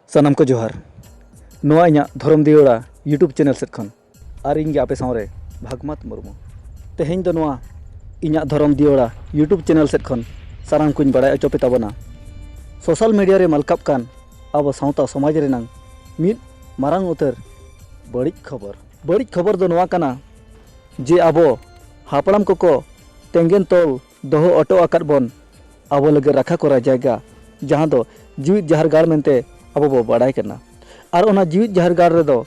ᱥᱟᱱᱟᱢ ᱠᱚ ᱡᱚᱦᱟᱨ ᱱᱚᱣᱟ ᱤᱧᱟᱹᱜ ᱫᱷᱚᱨᱚᱢ ᱫᱤᱭᱚᱲᱟ ᱭᱩᱴᱩᱵᱽ ᱪᱮᱱᱮᱞ ᱥᱮᱫ ᱠᱷᱚᱱ ᱟᱨ ᱤᱧ ᱜᱮ ᱟᱯᱮ ᱥᱟᱶᱨᱮ ᱵᱷᱟᱜᱽᱢᱟᱛ ᱢᱩᱨᱢᱩ ᱛᱮᱦᱮᱧ ᱫᱚ ᱱᱚᱣᱟ ᱤᱧᱟᱹᱜ ᱫᱷᱚᱨᱚᱢ ᱫᱤᱭᱚᱲᱟ ᱭᱩᱴᱩᱵᱽ ᱪᱮᱱᱮᱞ ᱥᱮᱫ ᱠᱷᱚᱱ ᱥᱟᱱᱟᱢ ᱠᱚᱧ ᱵᱟᱲᱟᱭ ᱦᱚᱪᱚ ᱯᱮ ᱛᱟᱵᱚᱱᱟ ᱥᱳᱥᱟᱞ ᱢᱤᱰᱤᱭᱟ ᱨᱮ ᱢᱟᱞᱠᱟᱜ ᱠᱟᱱ ᱟᱵᱚ ᱥᱟᱶᱛᱟ ᱥᱚᱢᱟᱡᱽ ᱨᱮᱱᱟᱝ ᱢᱤᱫ ᱢᱟᱨᱟᱝ ᱩᱛᱟᱹᱨ ᱵᱟᱹᱲᱤᱡ ᱠᱷᱚᱵᱚᱨ ᱵᱟᱹᱲᱤᱡ ᱠᱷᱚᱵᱚᱨ ᱫᱚ ᱱᱚᱣᱟ ᱠᱟᱱᱟ ᱡᱮ ᱟᱵᱚ ᱦᱟᱯᱲᱟᱢ ᱠᱚᱠᱚ ᱛᱮᱸᱜᱮᱱ ᱛᱚᱞ ᱫᱚᱦᱚ ᱚᱴᱚ ᱟᱠᱟᱫ ᱵᱚᱱ ᱟᱵᱚ ᱞᱟᱹᱜᱤᱫ ᱨᱟᱠᱷᱟ ᱠᱚᱨᱟ ᱡᱟᱭᱜᱟ ᱡᱟᱦᱟᱸ ᱫᱚ ᱡᱤᱣᱤᱫ ᱡᱟᱦᱮᱨ ᱜᱟᱲ ᱢᱮᱱᱛᱮ ᱟᱵᱚ ᱵᱚ ᱵᱟᱲᱟᱭ ᱠᱟᱱᱟ ᱟᱨ ᱚᱱᱟ ᱡᱤᱣᱤᱫ ᱡᱟᱦᱮᱨ ᱜᱟᱲ ᱨᱮᱫᱚ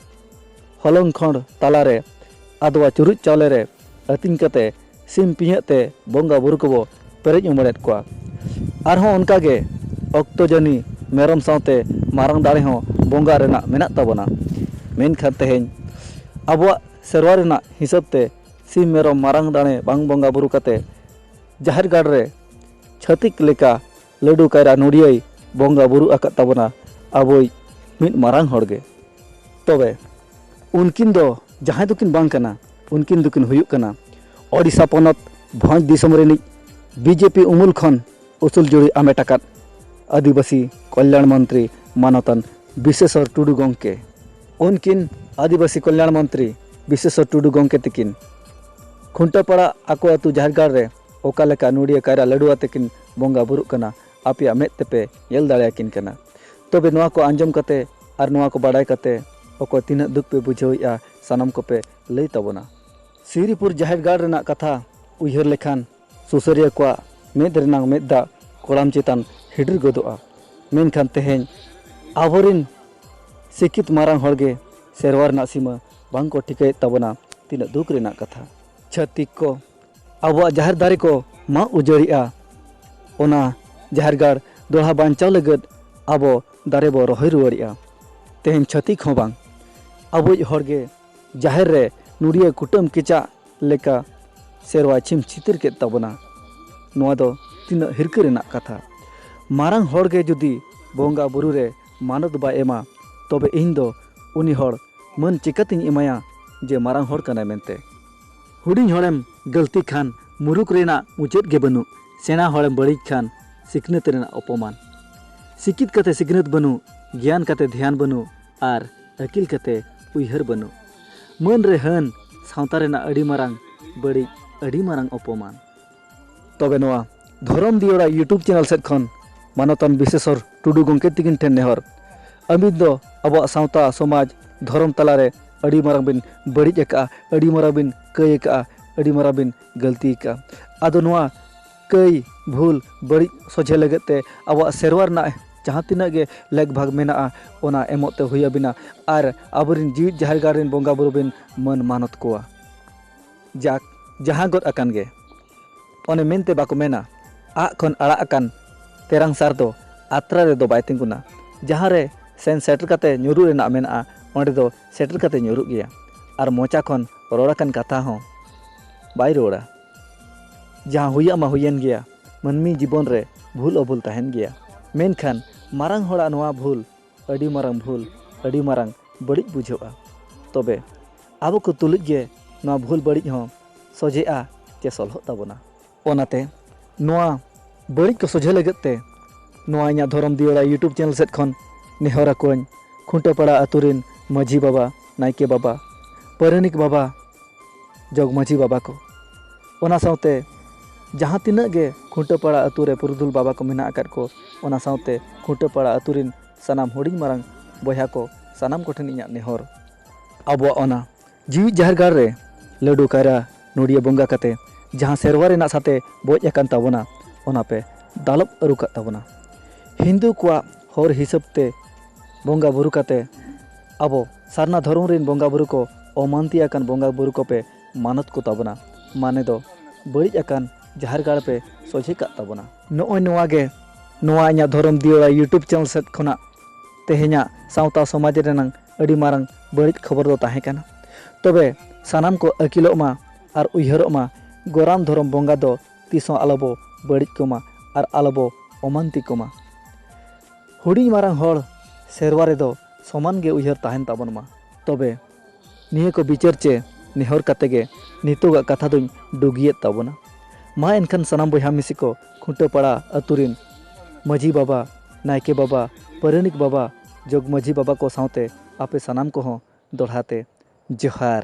ᱦᱚᱞᱚᱝ ᱠᱷᱚᱸᱰ ᱛᱟᱞᱟᱨᱮ ᱟᱫᱽᱣᱟ ᱪᱩᱨᱩᱡ ᱪᱟᱣᱞᱮ ᱨᱮ ᱟᱹᱛᱤᱧ ᱠᱟᱛᱮ ᱥᱤᱢ ᱯᱤᱧᱦᱟᱹᱜ ᱛᱮ ᱵᱚᱸᱜᱟ ᱵᱩᱨᱩ ᱠᱚᱵᱚ ᱯᱮᱨᱮᱡ ᱩᱢᱟᱹᱲᱮᱫ ᱠᱚᱣᱟ ᱟᱨᱦᱚᱸ ᱚᱱᱠᱟᱜᱮ ᱚᱠᱛᱚ ᱡᱟᱹᱱᱤ ᱢᱮᱨᱚᱢ ᱥᱟᱶᱛᱮ ᱢᱟᱨᱟᱝ ᱫᱟᱲᱮ ᱦᱚᱸ ᱵᱚᱸᱜᱟ ᱨᱮᱱᱟᱜ ᱢᱮᱱᱟᱜ ᱛᱟᱵᱚᱱᱟ ᱢᱮᱱᱠᱷᱟᱱ ᱛᱮᱦᱮᱧ ᱟᱵᱚᱣᱟᱜ ᱥᱮᱨᱣᱟ ᱨᱮᱱᱟᱜ ᱦᱤᱥᱟᱹᱵ ᱛᱮ ᱥᱤᱢ ᱢᱮᱨᱚᱢ ᱢᱟᱨᱟᱝ ᱫᱟᱲᱮ ᱵᱟᱝ ᱵᱚᱸᱜᱟ ᱵᱩᱨᱩ ᱠᱟᱛᱮ ᱡᱟᱦᱮᱨ ᱜᱟᱲ ᱨᱮ ᱪᱷᱟᱹᱛᱤᱠ ᱞᱮᱠᱟ ᱞᱟᱹᱰᱩ ᱠᱟᱭᱨᱟ ᱱᱚᱲᱤᱭᱟᱹᱭ ᱵᱚᱸᱜᱟ ᱵᱩᱨᱩ ᱟᱠᱟᱫ ᱛᱟᱵᱚᱱᱟ ᱟᱵᱚᱭ ᱢᱤᱫ ᱢᱟᱨᱟᱝ ᱦᱚᱲ ᱜᱮ ᱛᱚᱵᱮ ᱩᱱᱠᱤᱱ ᱫᱚ ᱡᱟᱦᱟᱸᱭ ᱫᱚᱠᱤᱱ ᱵᱟᱝ ᱠᱟᱱᱟ ᱩᱱᱠᱤᱱ ᱫᱚᱠᱤᱱ ᱦᱩᱭᱩᱜ ᱠᱟᱱᱟ ᱳᱰᱤᱥᱟ ᱯᱚᱱᱚᱛ ᱵᱷᱚᱸᱡᱽ ᱫᱤᱥᱚᱢ ᱨᱤᱱᱤᱡ ᱵᱤᱡᱮᱯᱤ ᱩᱢᱩᱞ ᱠᱷᱚᱱ ᱩᱥᱩᱞ ᱡᱩᱲᱤ ᱟᱢᱮᱴ ᱟᱠᱟᱫ ᱟᱹᱫᱤᱵᱟᱹᱥᱤ ᱠᱚᱞᱭᱟᱬ ᱢᱚᱱᱛᱨᱤ ᱢᱟᱱᱚᱛᱟᱱ ᱵᱤᱥᱮᱥᱚᱨ ᱴᱩᱰᱩ ᱜᱚᱢᱠᱮ ᱩᱱᱠᱤᱱ ᱟᱹᱫᱤᱵᱟᱹᱥᱤ ᱠᱚᱞᱭᱟᱬ ᱢᱚᱱᱛᱨᱤ ᱵᱤᱥᱮᱥᱚᱨ ᱴᱩᱰᱩ ᱜᱚᱢᱠᱮ ᱛᱤᱠᱤᱱ ᱠᱷᱩᱱᱴᱟᱹᱯᱟᱲᱟ ᱟᱠᱚ ᱟᱹᱛᱩ ᱡᱟᱦᱮᱨ ᱜᱟᱲ ᱨᱮ ᱚᱠᱟ ᱞᱮᱠᱟ ᱟᱱᱩᱲᱤᱭᱟᱹ ᱠᱟᱭᱨᱟ ᱞᱟᱹᱰᱩ ᱟᱛᱮ ᱠᱤᱱ ᱵᱚᱸᱜᱟ ᱵᱩᱨᱩᱜ ᱠᱟᱱᱟ ᱟᱯᱮᱭᱟᱜ ᱢᱮᱫ ᱛᱮᱯᱮ ᱧᱮᱞ ᱫᱟᱲᱮ ᱟᱠᱤᱱ ᱠᱟᱱᱟ᱾ ᱛᱚᱵᱮ ᱱᱚᱣᱟ ᱠᱚ ᱟᱸᱡᱚᱢ ᱠᱟᱛᱮ ᱟᱨ ᱱᱚᱣᱟ ᱠᱚ ᱵᱟᱰᱟᱭ ᱠᱟᱛᱮ ᱚᱠᱚᱭ ᱛᱤᱱᱟᱹᱜ ᱫᱩᱠ ᱯᱮ ᱵᱩᱡᱷᱟᱹᱣᱮᱜᱼᱟ ᱥᱟᱱᱟᱢ ᱠᱚᱯᱮ ᱞᱟᱹᱭ ᱛᱟᱵᱚᱱᱟ᱾ ᱥᱤᱣᱨᱤᱯᱩᱨ ᱡᱟᱦᱮᱨ ᱜᱟᱲ ᱨᱮᱱᱟᱜ ᱠᱟᱛᱷᱟ ᱩᱭᱦᱟᱹᱨ ᱞᱮᱠᱷᱟᱱ ᱥᱩᱥᱟᱹᱨᱤᱭᱟᱹ ᱠᱚᱣᱟᱜ ᱢᱮᱫ ᱨᱮᱱᱟᱜ ᱢᱮᱫ ᱫᱟᱜ ᱠᱚᱲᱟᱢ ᱪᱮᱛᱟᱱ ᱦᱤᱰᱤᱨ ᱜᱚᱫᱚᱜᱼᱟ᱾ ᱢᱮᱱᱠᱷᱟᱱ ᱛᱮᱦᱮᱧ ᱟᱵᱚᱨᱤᱱ ᱥᱤᱠᱷᱤᱛ ᱢᱟᱨᱟᱝ ᱦᱚᱲ ᱜᱮ ᱥᱮᱨᱣᱟ ᱨᱮᱱᱟᱜ ᱥᱤᱢᱟᱹ ᱵᱟᱝ ᱠᱚ ᱴᱷᱤᱠᱟᱹᱭᱮᱫ ᱛᱟᱵᱚᱱᱟ ᱛᱤᱱᱟᱹᱜ ᱫᱩᱠ ᱨᱮᱱᱟᱜ ᱠᱟᱛᱷᱟ᱾ ᱪᱷᱟᱹᱛᱤᱠ ᱠᱚ ᱟᱵᱚᱣᱟᱜ ᱡᱟᱦᱮᱨ ᱫᱟᱨᱮ ᱠᱚ ᱢᱟᱜ ᱩᱡᱟᱹᱲᱮᱜᱼᱟ ᱚᱱᱟ ᱡᱟᱦᱮᱨ ᱜᱟᱲ ᱫᱚᱲᱦᱟ ᱵᱟᱧᱪᱟᱣ ᱞᱟᱹᱜᱤᱫ ᱟᱵᱚ ᱫᱟᱨᱮ ᱵᱚ ᱨᱚᱦᱚᱭ ᱨᱩᱣᱟᱹᱲᱮᱜᱼᱟ ᱛᱮᱦᱮᱧ ᱪᱷᱟᱹᱛᱤᱠ ᱦᱚᱸ ᱵᱟᱝ ᱟᱵᱚᱭᱤᱡ ᱦᱚᱲ ᱜᱮ ᱡᱟᱦᱮᱨ ᱨᱮ ᱱᱩᱲᱤᱭᱟᱹ ᱠᱩᱴᱟᱹᱢ ᱠᱮᱪᱟᱜ ᱞᱮᱠᱟ ᱥᱮᱨᱣᱟ ᱪᱷᱤᱢ ᱪᱷᱤᱛᱤᱨ ᱠᱮᱫ ᱛᱟᱵᱚᱱᱟ ᱱᱚᱣᱟ ᱫᱚ ᱛᱤᱱᱟᱹᱜ ᱦᱤᱨᱠᱟᱹ ᱨᱮᱱᱟᱜ ᱠᱟᱛᱷᱟ ᱢᱟᱨᱟᱝ ᱦᱚᱲ ᱜᱮ ᱡᱩᱫᱤ ᱵᱚᱸᱜᱟ ᱵᱩᱨᱩ ᱨᱮ ᱢᱟᱱᱚᱛ ᱵᱟᱭ ᱮᱢᱟ ᱛᱚᱵᱮ ᱤᱧ ᱫᱚ ᱩᱱᱤ ᱦᱚᱲ ᱢᱟᱹᱱ ᱪᱤᱠᱟᱹᱛᱤᱧ ᱮᱢᱟᱭᱟ ᱡᱮ ᱢᱟᱨᱟᱝ ᱦᱚᱲ ᱠᱟᱱᱟᱭ ᱢᱮᱱᱛᱮ ᱦᱩᱰᱤᱧ ᱦᱚᱲᱮᱢ ᱜᱟᱹᱞᱛᱤ ᱠᱷᱟᱱ ᱢᱩᱨᱩᱠ ᱨᱮᱱᱟᱜ ᱢᱩᱪᱟᱹᱫ ᱜᱮ ᱵᱟᱹᱱᱩᱜ ᱥᱮᱬᱟ ᱦᱚᱲᱮᱢ ᱵᱟᱹᱲᱤᱡ ᱠᱷᱟᱱ ᱥᱤᱠᱷᱱᱟᱹᱛ ᱨᱮᱱᱟᱜ ᱚᱯᱚᱢᱟᱱ ᱥᱤᱠᱤᱛ ᱠᱟᱛᱮ ᱥᱤᱠᱷᱱᱟᱹᱛ ᱵᱟᱹᱱᱩᱜ ᱜᱮᱭᱟᱱ ᱠᱟᱛᱮ ᱫᱷᱮᱭᱟᱱ ᱵᱟᱹᱱᱩᱜ ᱟᱨ ᱟᱹᱠᱤᱞ ᱠᱟᱛᱮ ᱩᱭᱦᱟᱹᱨ ᱵᱟᱹᱱᱩᱜ ᱢᱟᱹᱱ ᱨᱮ ᱦᱟᱹᱱ ᱥᱟᱶᱛᱟ ᱨᱮᱱᱟᱜ ᱟᱹᱰᱤ ᱢᱟᱨᱟᱝ ᱵᱟᱹᱲᱤᱡ ᱟᱹᱰᱤ ᱢᱟᱨᱟᱝ ᱚᱯᱚᱢᱟᱱ᱾ ᱛᱚᱵᱮ ᱱᱚᱣᱟ ᱫᱷᱚᱨᱚᱢ ᱫᱤᱭᱚᱲᱟ ᱭᱩᱴᱩᱵᱽ ᱪᱮᱱᱮᱞ ᱥᱮᱫ ᱠᱷᱚᱱ ᱢᱟᱱᱚᱛᱟᱱ ᱵᱤᱥᱮᱥᱚᱨ ᱴᱩᱰᱩ ᱜᱚᱢᱠᱮ ᱛᱤᱠᱤᱱ ᱴᱷᱮᱱ ᱱᱮᱦᱚᱨ ᱟᱹᱵᱤᱱ ᱫᱚ ᱟᱵᱚᱣᱟᱜ ᱥᱟᱶᱛᱟ ᱥᱚᱢᱟᱡᱽ ᱫᱷᱚᱨᱚᱢ ᱛᱟᱞᱟᱨᱮ ᱟᱹᱰᱤ ᱢᱟᱨᱟᱝ ᱵᱤᱱ ᱵᱟᱹᱲᱤᱡ ᱟᱠᱟᱜᱼᱟ ᱟᱹᱰᱤ ᱢᱟᱨᱟᱝ ᱵᱤᱱ ᱠᱟᱹᱭ ᱟᱠᱟᱜᱼᱟ ᱟᱹᱰᱤ ᱢᱟᱨᱟᱝ ᱵᱤᱱ ᱜᱟᱹᱞᱛᱤ ᱟᱠᱟᱜᱼᱟ ᱟᱫᱚ ᱱᱚᱣᱟ ᱠᱟᱹᱭ ᱵᱷᱩᱞ ᱵᱟᱹᱲᱤᱡ ᱥᱚᱡᱷᱮ ᱞᱟᱹᱜᱤᱫ ᱛᱮ ᱟᱵᱚᱣᱟᱜ ᱥᱮᱨᱣᱟ ᱨᱮᱱᱟᱜ ᱡᱟᱦᱟᱸ ᱛᱤᱱᱟᱹᱜ ᱜᱮ ᱞᱮᱠ ᱵᱷᱟᱜᱽ ᱢᱮᱱᱟᱜᱼᱟ ᱚᱱᱟ ᱮᱢᱚᱜ ᱛᱮ ᱦᱩᱭ ᱟᱹᱵᱤᱱᱟ ᱟᱨ ᱟᱵᱚᱨᱮᱱ ᱡᱤᱣᱤᱫ ᱡᱟᱦᱮᱨ ᱜᱟᱲ ᱨᱮᱱ ᱵᱚᱸᱜᱟ ᱵᱩᱨᱩ ᱵᱤᱱ ᱢᱟᱹᱱ ᱢᱟᱱᱚᱛ ᱠᱚᱣᱟ ᱡᱟᱠ, ᱡᱟᱦᱟᱸ ᱜᱚᱫ ᱟᱠᱟᱱ ᱜᱮ᱾ ᱚᱱᱮ ᱢᱮᱱᱛᱮ ᱵᱟᱠᱚ ᱢᱮᱱᱟ ᱟᱜ ᱠᱷᱚᱱ ᱟᱲᱟᱜ ᱟᱠᱟᱱ ᱛᱮᱨᱟᱝ ᱥᱟᱨ ᱫᱚ ᱟᱛᱨᱟ ᱨᱮ ᱫᱚ ᱵᱟᱭ ᱛᱤᱸᱜᱩᱱᱟ᱾ ᱡᱟᱦᱟᱸ ᱨᱮ ᱥᱮᱱ ᱥᱮᱴᱮᱨ ᱠᱟᱛᱮ ᱧᱩᱨᱩᱜ ᱨᱮᱱᱟᱜ ᱢᱮᱱᱟᱜᱼᱟ ᱚᱸᱰᱮ ᱫᱚ ᱥᱮᱴᱮᱨ ᱠᱟᱛᱮ ᱧᱩᱨᱩᱜ ᱜᱮᱭᱟ ᱟᱨ ᱢᱚᱪᱟ ᱠᱷᱚᱱ ᱨᱚᱲ ᱟᱠᱟᱱ ᱠᱟᱛᱷᱟ ᱦᱚᱸ ᱵᱟᱭ ᱨᱩᱣᱟᱹᱲᱟ᱾ ᱡᱟᱦᱟᱸ ᱦᱩᱭᱟᱜ ᱢᱟ ᱦᱩᱭᱮᱱ ᱜᱮᱭᱟ᱾ ᱢᱟᱹᱱᱢᱤ ᱡᱤᱵᱚᱱ ᱨᱮ ᱵᱷᱩᱞ ᱚᱵᱷᱩᱞ ᱛᱟᱦᱮᱸᱱ ᱜᱮᱭᱟ᱾ ᱢᱮᱱᱠᱷᱟᱱ ᱢᱟᱨᱟᱝ ᱦᱚᱲᱟᱜ ᱱᱚᱶᱟ ᱵᱷᱩᱞ᱾ ᱟᱹᱰᱤ ᱢᱟᱨᱟᱝ ᱵᱷᱩᱞ ᱟᱹᱰᱤ ᱢᱟᱨᱟᱝ ᱵᱟᱹᱲᱤᱡ ᱵᱩᱡᱷᱟᱹᱜᱼᱟ ᱛᱚᱵᱮ ᱟᱵᱚ ᱠᱚ ᱛᱩᱞᱩᱡ ᱜᱮ ᱱᱚᱣᱟ ᱵᱷᱩᱞ ᱵᱟᱹᱲᱤᱡ ᱦᱚᱸ ᱥᱚᱡᱷᱮᱜᱼᱟ ᱪᱮ ᱥᱚᱞᱦᱚᱜ ᱛᱟᱵᱚᱱᱟ ᱚᱱᱟᱛᱮ ᱱᱚᱣᱟ ᱵᱟᱹᱲᱤᱡ ᱠᱚ ᱥᱚᱡᱷᱮ ᱞᱟᱹᱜᱤᱫ ᱛᱮ ᱱᱚᱣᱟ ᱤᱧᱟᱹᱜ ᱫᱷᱚᱨᱚᱢ ᱫᱤᱭᱟᱹᱲᱟ ᱤᱭᱩᱴᱩᱵᱽ ᱪᱮᱱᱮᱞ ᱥᱮᱫ ᱠᱷᱚᱱ ᱱᱮᱦᱚᱨ ᱟᱠᱚᱣᱟᱹᱧ ᱠᱷᱩᱱᱴᱟᱹ ᱯᱟᱲᱟ ᱟᱹᱛᱩ ᱨᱮᱱ ᱢᱟᱹᱡᱷᱤ ᱵᱟᱵᱟ ᱱᱟᱭᱠᱮ ᱵᱟᱵᱟ ᱯᱟᱹᱨᱟᱹᱱᱤᱠ ᱵᱟᱵᱟ ᱡᱚᱜᱽ ᱢᱟᱹᱡᱷᱤ ᱵᱟᱵᱟ ᱠᱚ ᱚᱱᱟ ᱥᱟᱶᱛᱮ ᱡᱟᱦᱟᱸ ᱛᱤᱱᱟᱹᱜ ᱜᱮ ᱠᱷᱩᱸᱴᱟᱹ ᱯᱟᱲᱟ ᱟᱛᱳ ᱨᱮ ᱯᱩᱨᱩᱫᱷᱩᱞ ᱵᱟᱵᱟ ᱠᱚ ᱢᱮᱱᱟᱜ ᱟᱠᱟᱫ ᱠᱚ ᱚᱱᱟ ᱥᱟᱶᱛᱮ ᱠᱷᱩᱸᱴᱟᱹ ᱯᱟᱲᱟ ᱟᱛᱳ ᱨᱮᱱ ᱥᱟᱱᱟᱢ ᱦᱩᱰᱤᱧ ᱢᱟᱨᱟᱝ ᱵᱚᱭᱦᱟ ᱠᱚ ᱥᱟᱱᱟᱢ ᱠᱚᱴᱷᱮᱱ ᱤᱧᱟᱹᱜ ᱱᱮᱦᱚᱨ ᱟᱵᱚᱣᱟᱜ ᱚᱱᱟ ᱡᱤᱣᱤ ᱡᱟᱦᱮᱨ ᱜᱟᱲ ᱨᱮ ᱞᱟᱹᱰᱩ ᱠᱟᱭᱨᱟ ᱱᱚᱲᱤᱭᱟᱹ ᱵᱚᱸᱜᱟ ᱠᱟᱛᱮ ᱡᱟᱦᱟᱸ ᱥᱮᱨᱣᱟ ᱨᱮᱱᱟᱜ ᱥᱟᱛᱮ ᱵᱚᱡ ᱟᱠᱟᱱ ᱛᱟᱵᱚᱱᱟ ᱚᱱᱟ ᱯᱮ ᱫᱟᱞᱚᱵ ᱟᱹᱨᱩ ᱠᱟᱜ ᱛᱟᱵᱚᱱᱟ ᱦᱤᱱᱫᱩ ᱠᱚᱣᱟᱜ ᱦᱚᱨ ᱦᱤᱥᱟᱹᱵ ᱛᱮ ᱵᱚᱸᱜᱟ ᱵᱩᱨᱩ ᱠᱟᱛᱮ ᱟᱵᱚ ᱥᱟᱨᱱᱟ ᱫᱷᱚᱨᱚᱢ ᱨᱮᱱ ᱵᱚᱸᱜᱟ ᱵᱩᱨᱩ ᱠᱚ ᱚᱢᱟᱱᱛᱤ ᱟᱠᱟᱱ ᱵᱚᱸᱜᱟ ᱵᱩᱨᱩ ᱠᱚᱯᱮ ᱢᱟᱱᱚᱛ ᱠᱚ ᱛᱟᱵᱚᱱᱟ ᱢᱟᱱᱮ ᱫᱚ ᱵᱟᱹᱲᱤᱡ ᱟᱠᱟᱱ ᱡᱟᱦᱮᱨ ᱜᱟᱲ ᱯᱮ ᱥᱚᱡᱷᱮ ᱠᱟᱜ ᱛᱟᱵᱚᱱᱟ ᱱᱚᱜᱼᱚᱭ ᱱᱚᱣᱟ ᱜᱮ ᱱᱚᱣᱟ ᱤᱧᱟᱹᱜ ᱫᱷᱚᱨᱚᱢ ᱫᱤᱭᱟᱹᱲᱟ ᱭᱩᱴᱩᱵᱽ ᱪᱮᱱᱮᱞ ᱥᱮᱫ ᱠᱷᱚᱱᱟᱜ ᱛᱮᱦᱮᱧᱟᱜ ᱥᱟᱶᱛᱟ ᱥᱚᱢᱟᱡᱽ ᱨᱮᱱᱟᱝ ᱟᱹᱰᱤ ᱢᱟᱨᱟᱝ ᱵᱟᱹᱲᱤᱡ ᱠᱷᱚᱵᱚᱨ ᱫᱚ ᱛᱟᱦᱮᱸ ᱠᱟᱱᱟ ᱛᱚᱵᱮ ᱥᱟᱱᱟᱢ ᱠᱚ ᱟᱹᱠᱤᱞᱚᱜ ᱢᱟ ᱟᱨ ᱩᱭᱦᱟᱹᱨᱚᱜ ᱢᱟ ᱜᱚᱨᱟᱢ ᱫᱷᱚᱨᱚᱢ ᱵᱚᱸᱜᱟ ᱫᱚ ᱛᱤᱥ ᱦᱚᱸ ᱟᱞᱚ ᱵᱚ ᱵᱟᱹᱲᱤᱡ ᱠᱚᱢᱟ ᱟᱨ ᱟᱞᱚ ᱵᱚ ᱚᱢᱟᱱᱛᱤ ᱠᱚᱢᱟ ᱦᱩᱰᱤᱧ ᱢᱟᱨᱟᱝ ᱦᱚᱲ ᱥᱮᱨᱣᱟ ᱨᱮᱫᱚ ᱥᱚᱢᱟᱱ ᱜᱮ ᱩᱭᱦᱟᱹᱨ ᱛᱟᱦᱮᱱ ᱛᱟᱵᱚᱱ ᱢᱟ ᱛᱚᱵᱮ ᱱᱤᱭᱟᱹ ᱠᱚ ᱵᱤᱪᱟᱹᱨ ᱪᱮ ᱱᱮᱦᱚᱨ ᱠᱟᱛᱮ ᱜᱮ ᱱᱤᱛᱚᱜᱟᱜ ᱠᱟᱛᱷᱟ ᱫᱚᱧ ᱰᱩᱜᱤᱭᱮᱫ ᱛᱟᱵᱚᱱᱟ᱾ ᱢᱟ ᱮᱱᱠᱷᱟᱱ ᱥᱟᱱᱟᱢ ᱵᱚᱭᱦᱟ ᱢᱤᱥᱤ ᱠᱚ ᱠᱷᱩᱸᱴᱟᱹᱯᱟᱲᱟ ᱟᱹᱛᱩ ᱨᱤᱱ ᱢᱟᱹᱡᱷᱤ ᱵᱟᱵᱟ, ᱱᱟᱭᱠᱮ ᱵᱟᱵᱟ, ᱯᱟᱹᱨᱟᱹᱱᱤᱠ ᱵᱟᱵᱟ, ᱡᱚᱜᱽᱢᱟᱹᱡᱷᱤ ᱵᱟᱵᱟ ᱠᱚ ᱥᱟᱶᱛᱮ ᱟᱯᱮ ᱥᱟᱱᱟᱢ ᱠᱚᱦᱚᱸ ᱫᱚᱲᱦᱟ ᱛᱮ ᱡᱚᱦᱟᱨ᱾